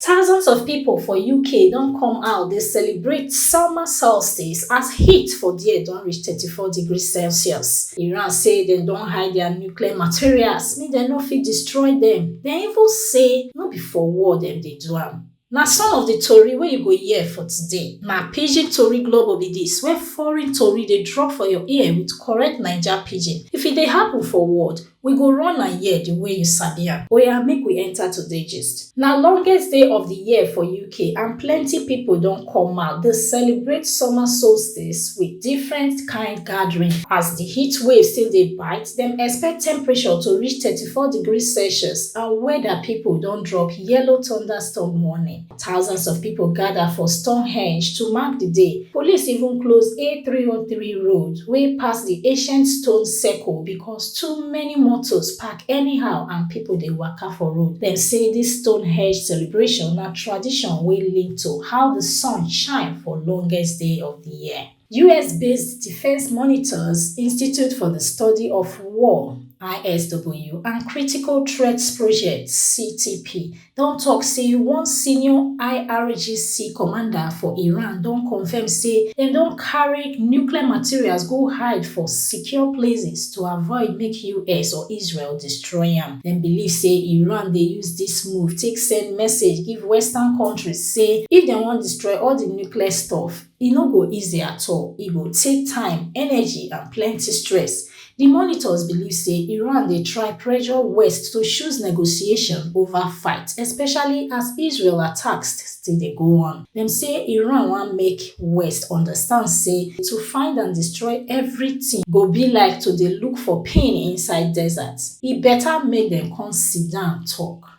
Thousands of pipo for uk don come out dey celebrate summer solstice as heat for there don reach thirty four degrees celsius. Iran say dem don hide dia nuclear materials make dem no fit destroy dem, dem even say no be for war dem dey do am. Na some of di tori wey you go hear for today. Na Pidgin Tori Global be dis, where foreign tori dey drop for your ear with correct Naija Pidgin. If e dey happun for world, We go run am here the way you sabi am. Oya make we enter today gist. Na longest day of the year for UK and plenty people don come out dey celebrate summer solstice with different kind gathering. As the heat wave still dey bite, dem expect temperature to reach thirty four degrees Celsius and weather people don drop yellow thunderstorm warning. Thousands of pipo gada for Stonehenge to mark di day, police even close A303 road wey pass di ancient stone circle becos too many motos park anyhow and pipo dey waka for road. Dem say dis Stonehenge celebration na tradition wey link to how di sun shine for longest day of di year. US-based Defense Monitors Institute for the Study of War ISW and Critical Threats Project CTP don tok say one senior IRGC commander for Iran don confirm say dem don carry nuclear materials go hide for secure places to avoid make US or Israel destroy am. Dem believe say Iran dey use dis move take send message give Western countries say if dem wan destroy all di nuclear stuff, E no go easy at all, e go take time, energy and plenty stress. Di monitors believe say Iran dey try pressure West to choose negotiation ova fight, especially as Israel attacks still dey go on. Dem say Iran wan make West understand say to find and destroy evritin go be like to dey look for pin inside desert, e beta make dem come sit down tok.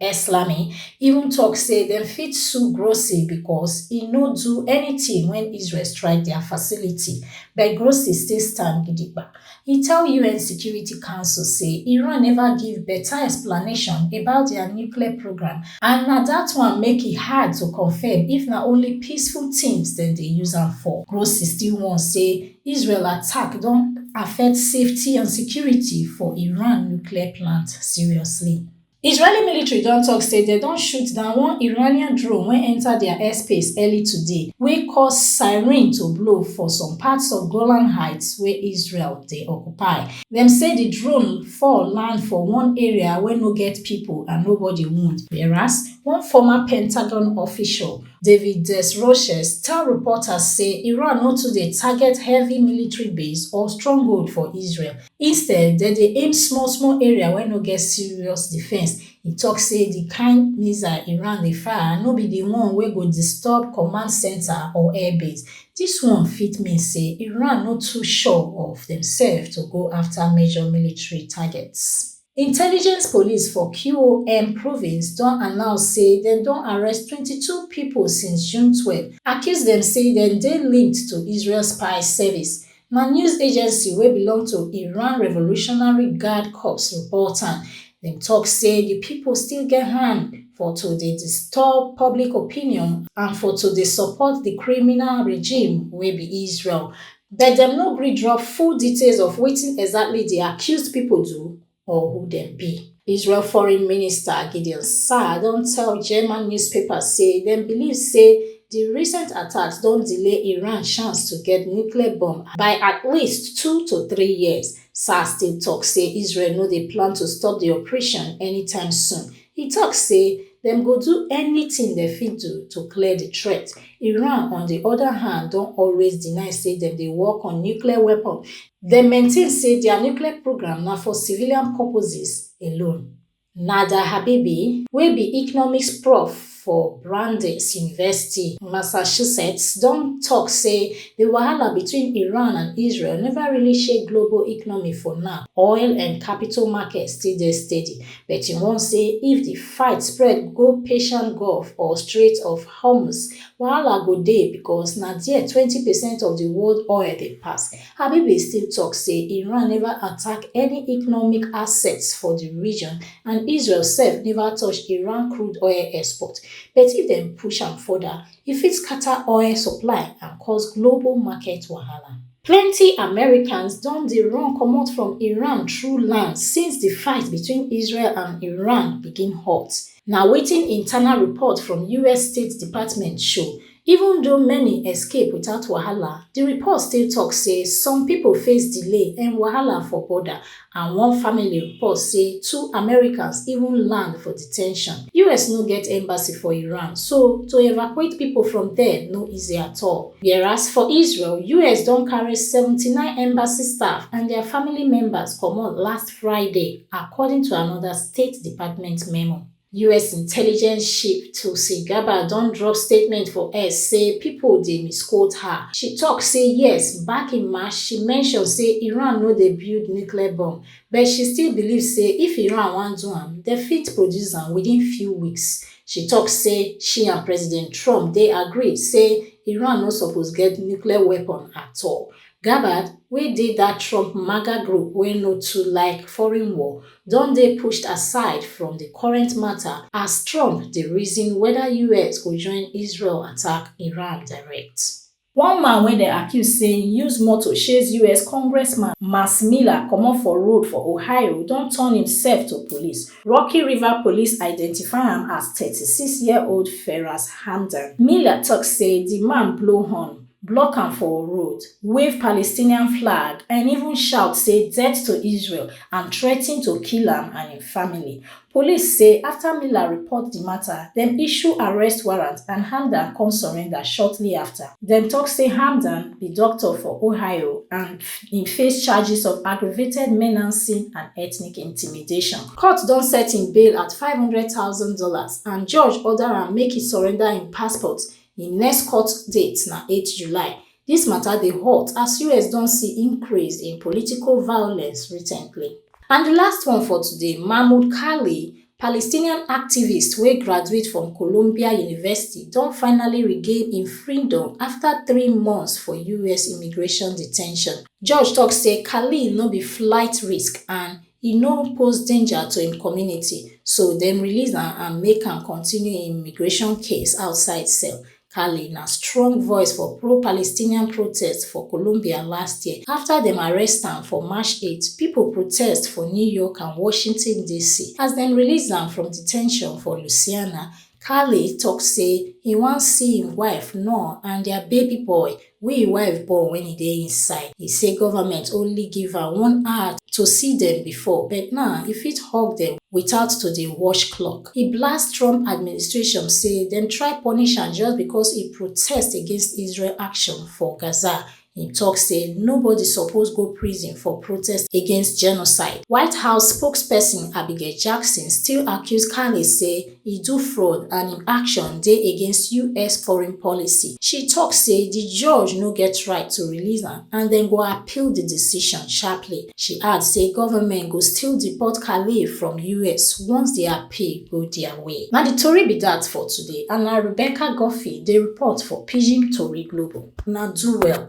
eslami even tok say dem fit sue grossi becos e no do anytin wen israel strike dia facility but grossi still stand gidigba e tell un security council say iran neva give beta explanation about dia nuclear programme and na dat one make e hard to confam if na only peaceful teams dem dey use am for grossi still warn say israel attack don affect safety and security for iran nuclear plant seriously. israeli military don tok say dem don shoot down one iranian drone wey enta dia airspace early today wey cause siren to blow for some parts of golan heights wey israel dey occupy dem say di drone fall land for one area wey no get pipo and nobody wound whereas one former pentagon official david desroches tell reporters say iran no too dey target heavy military base or stronghold for israel Instead, dem dey aim small small area wey no get serious defense. E talk say the kind missile Iran dey fire no be the one wey go disturb command center or air base. This one fit mean say Iran no too sure of themselves to go after major military targets. Intelligence police for QOM province don announce say dem don arrest 22 pipo since June 12, accuse dem say dem dey linked to Israel spy service, na news agency wey belong to Iran Revolutionary Guard Corps report am. Dem tok say di pipo still get hand for to dey disturb public opinion and for to dey support di criminal regime wey be Israel. but dem no gree drop full details of wetin exactly di accused pipo do or who dem be. Israel Foreign Minister Gideon Saar don tell German newspapers say dem believe say di recent attacks don delay Iran chance to get nuclear bomb by at least two to three years. Saar still tok say Israel no dey plan to stop di operation anytime soon, E tok say dem go do anytin dem fit do to clear di threat. Iran on di oda hand don always deny say dem dey work on nuclear weapons, dem maintain say dia nuclear programme na for civilian purposes alone. Nada Habibi, wey be economics prof. for Brandeis University, Massachusetts, don tok say di wahala between Iran and Israel neva really shake global economy for now. Oil and capital markets still dey steady, but e warn say if di fight spread go Persian Gulf or Strait of Hormuz, wahala go dey because na there twenty percent of di world oil dey pass. Habibie still tok say Iran neva attack any economic assets for di region and Israel sef neva touch Iran crude oil export, but if dem push am further, e fit scata oil supply and cause global market wahala. Plenty Americans don dey run comot from Iran through land since di fight between Israel and Iran begin hot, na wetin internal report from us State Department show. Even though many escape without wahala, di report still tok say some pipo face delay and wahala for border, and one family report say two Americans even land for de ten tion. US no get embassy for Iran, so to evacuate pipo from there no easy at all. Whereas for Israel, US don carry seventy nine embassy staff and dia family members comot last Friday, according to anoda State Department memo. us intelligence chief tulsi gabbard don drop statement for x say pipo dey misquote her she tok say yes back in march she mention say iran no dey build nuclear bomb but she still believe say if iran wan do am dem fit produce am within few weeks she tok say she and president trump dey agree say iran no suppose get nuclear weapon at all gabbard wey dey dat trump maga group wey no too like foreign war don dey pushed aside from di current mata as trump dey reason weda us go join israel attack iran direct One man wey dem accuse say e use motor chase us congressman Max Miller comot for road for Ohio don turn imsef to police. Rocky River Police identify am as thirty six year old Feras Hamdan. Miller tok say di man blow horn block am for road, wave Palestinian flag and even shout say death to Israel and threaten to kill am and im family. Police say afta Miller report di mata, dem issue arrest warrant and Hamdan come surrender shortly afta. Dem tok say Hamdan be doctor for Ohio and im face charges of aggravated menacing and ethnic intimidation. Court don set im bail at five hundred thousand dollars and judge order am make e surrender im passport, Im next court date na eight July. Dis mata dey hot as us don see increase in political violence recently. And di last one for today, Mahmoud Khalil, Palestinian activist wey graduate from Columbia University don finally regain im freedom afta three months for us immigration detention. Judge tok say Khalil no be flight risk and e no pose danger to im community so dem release am and make am continue im immigration case outside cell khaled na strong voice for pro-palestinian protests for colombia last year afta dem arrest am for march 8 pipo protest for new york and washington dc as dem release am from de ten tion for louisiana khaled tok say e wan see im wife noor and dia baby boy Wey e wife born wen e dey inside. E say government only give am one hour to see dem before but now e fit hug dem without to dey watch clock. E blast Trump administration say dem try punish am just because e protest against Israel action for Gaza. E talk say nobody suppose go prison for protest against genocide. White House spokesperson Abigail Jackson still accuse Carney say e do fraud and im action dey against us foreign policy she tok say di judge no get right to release am and dem go appeal di decision sharply she add say goment go still deport khalil from us once di appeal go dia way na di tori be dat for today and na rebecca guffey dey report for pidgin tori global una do well.